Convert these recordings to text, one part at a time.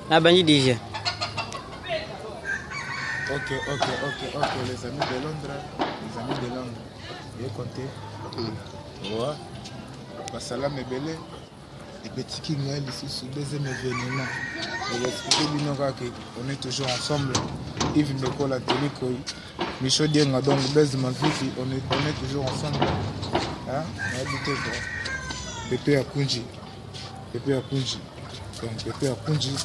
Nabandi déjà. Ok, ok, ok, ok, les amis de Londres, les amis de Londres, ye compte. Mm. Ouais. Basalam ebele ebetiki ngai lisusu deuxième événement eexplike bino kaka on est toujours ensemble ive ndokola telikoi micho dienga donc base maviki on est, on est toujours ensemble nayebi te bro beto ya kunji Pepe ya Kunji. Donc Pepe ya Kunji.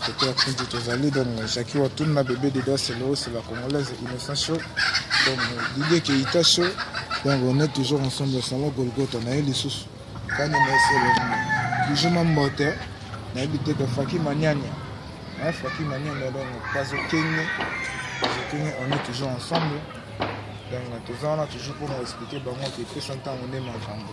Pepe ya Kunji tozali donc Jackie Watun na bébé Deda c'est le c'est la congolaise innocent show. Donc Didier Keita show. Donc on est toujours ensemble au salon Golgotha na ye lisusu. Kani na selo. Toujours ma mbote. Na yebite ka Faki Manyanya. Hein, Faki Manyanya donc Kazo Kenya. Kazo Kenya on est toujours ensemble. Donc toza wana toujours pour expliquer bango que pesa ntango nde makambo.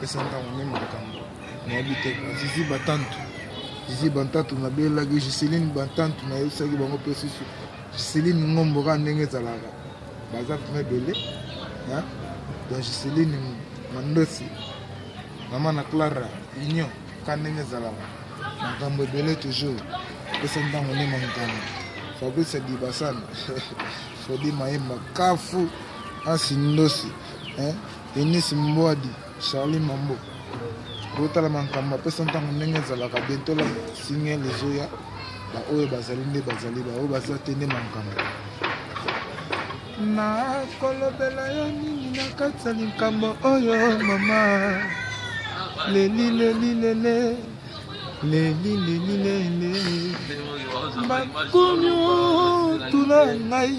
pesa ntango meme makambo nayebi te zizi batantu zizi bantantu nabelelaki giseline bantantu nayebisaki bango mpe susu giseline ngombo kaka ndenge ezalaka baza mpena ebele donc giseline mandosi mama na clara union ka ndenge ezalaka makambo ebele toujours pesa ntango nde mankana fabrice dibasana fodi mayemba kafu ansi ndosi Eunice Mbwadi, Charlie Mambo. Botala makambo apesa ntango ndenge ezalaka bientôt la signal ezoya baoyo bazali nde bazali baoyo baza te nde makambo nakolobela yo nini na kati ya likambo oyo mama leli leli lele leli leli lele bakunyo tula ngai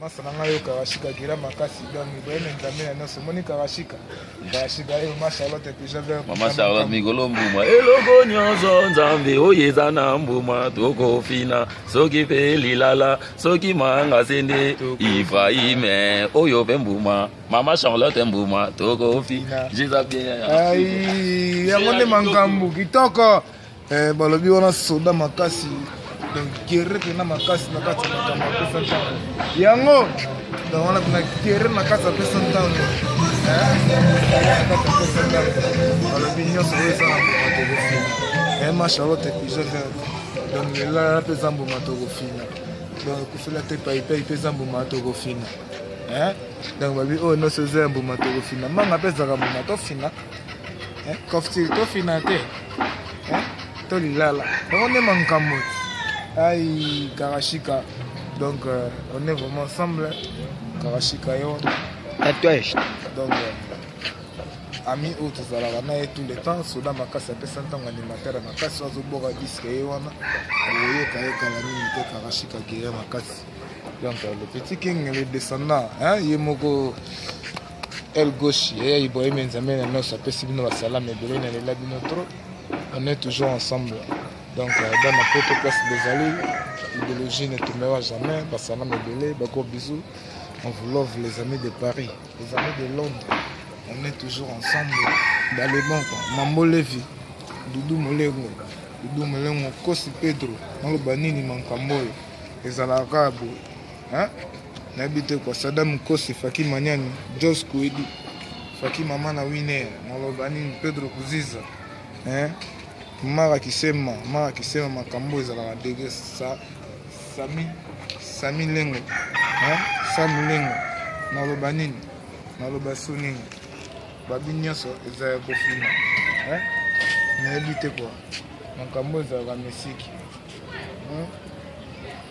masa na ngai yo karashika gira makasi donc ibrahim nzambe na nyonso omoni karashika karashika eyo ma charlotte pijaver mama charlotte mikolo mbuma eloko nyonso nzambe oyo eza na mbuma tokofina soki mpe lilala soki manga sende ibrahime oyo mpe mbuma mama charlotte mbuma tokofi jeza bien yango nde makambo kitoko Eh, balobi wana soda makasi donc guerre mpena makasi na kati ya makambo apesa ntango yango donc wana mpena guerre na kati apesa ntango balobi nyonso oyo eza na mbuma tokofina ema eh, charlotte episo vert donc lelala mpe eza mbuma tokofina donc kufela te paipai mpe eza mbuma tokofina eh? donc balobi oyo nyonso eza ya mbuma tokofina manga mpe ezalaka mbuma tofina kofti tofina te to lilala yango nde mankambo ai karashika donc euh, on est vraiment ensemble karashika yo tatouage donc euh, ami oyo tozalaka na ye tout le temps soda makasi apesa ntango animateur makasi azoboka diske ye wana okoyoka ye kala mingi te karashika guerre makasi donc euh, le petit king le descendant ye moko El Gauche, Yaya Ibrahim Nzambe na noso apesi bino basalama ebele na lela bino trop. On est toujours ensemble. Donc euh, dans ma poto place bozali idéologie ne tombera jamais basalama ebele bako bisous. On vous love les amis de Paris, les amis de Londres. On est toujours ensemble. Dans les bons, Mambo Levi, Doudou Molengo, Doudou Molengo, Kosi Pedro, naloba nini mankambo oyo ezalaka boye Hein? nayebi te kwa sada mokosi faki manyani jos kuedi faki mama na winer naloba nini pedro kuziza eh? mara kisema mara kisema makambo ezalaka dege sa, sami sami lengo eh? sami lengo naloba nini naloba so nini babi nyonso eza ya kofina eh? nayebi te kwa makambo ezalaka misiki eh?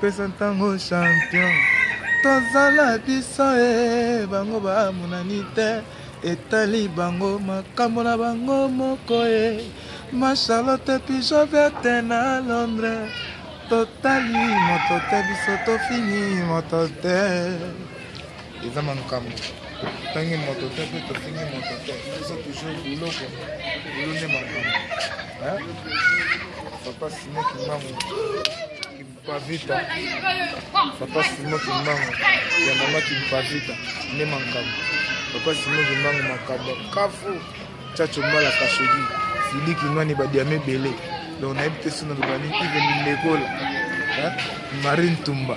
Pesa ntango champion tozala biso e bango bamonani te etali bango makambo na bango moko e ma charlotte pigeon verte na londres totali moto te biso tofini moto te eza makambo totangi moto te mpe tofingi moto te biso toujours biloko bolo nde makambo papa simo kimbangu kimpavita papa simo kimbangu ya mama kimpavita nde makambo papa simo kimbangu makambo kafu caco mbala kashogi siliki nwani badiama ebele donc nayebi te soki naloba nini ive mindekola marie ntumba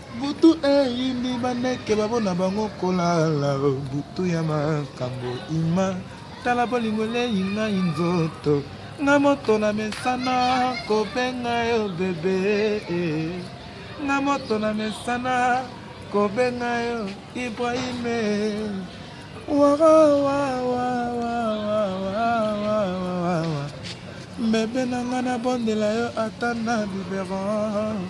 Butu eyindi bandeke babo na bango kolala butu ya makambo ima tala bolingo eleyi ngai nzoto nga moto na mesana kobenga yo bebe nga moto na mesana kobenga yo ibrahime bebe na nga nabondela yo ata na biberon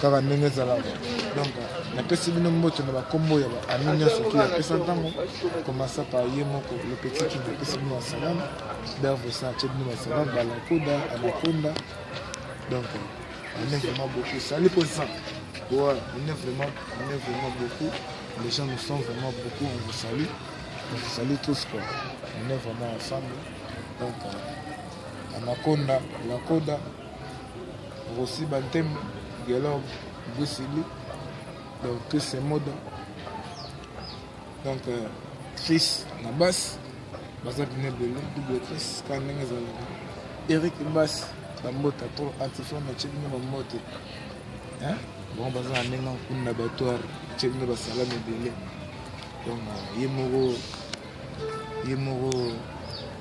kaka ndenge ezalaka donc napesi bino mboto na bakombo ya baami nyonso ki apesa ntango komasa pa ye moko lopetiki napesi bino basalam bervosa atye bino basalam balakoda anakonda donc on est vraiment beaucoup sali mposa ouais, on est vraiment on est vraiment beaucoup les gens nous sont vraiment beaucoup on vous salue on vous salue tous quoi on est vraiment ensemble donc euh, anakonda lakoda Rosi Bantembe, Guelor Bwisili, donc Chris Moda, donc euh, Chris na basse, baza bino ebele, double Chris, kaka ndenge ezalaka. Eric Basse, bambota to antiflame atye bino bambote. Bango baza na ndenge nkuni na batoire, atye bino basalami ebele. Donc euh, ye moko ye moko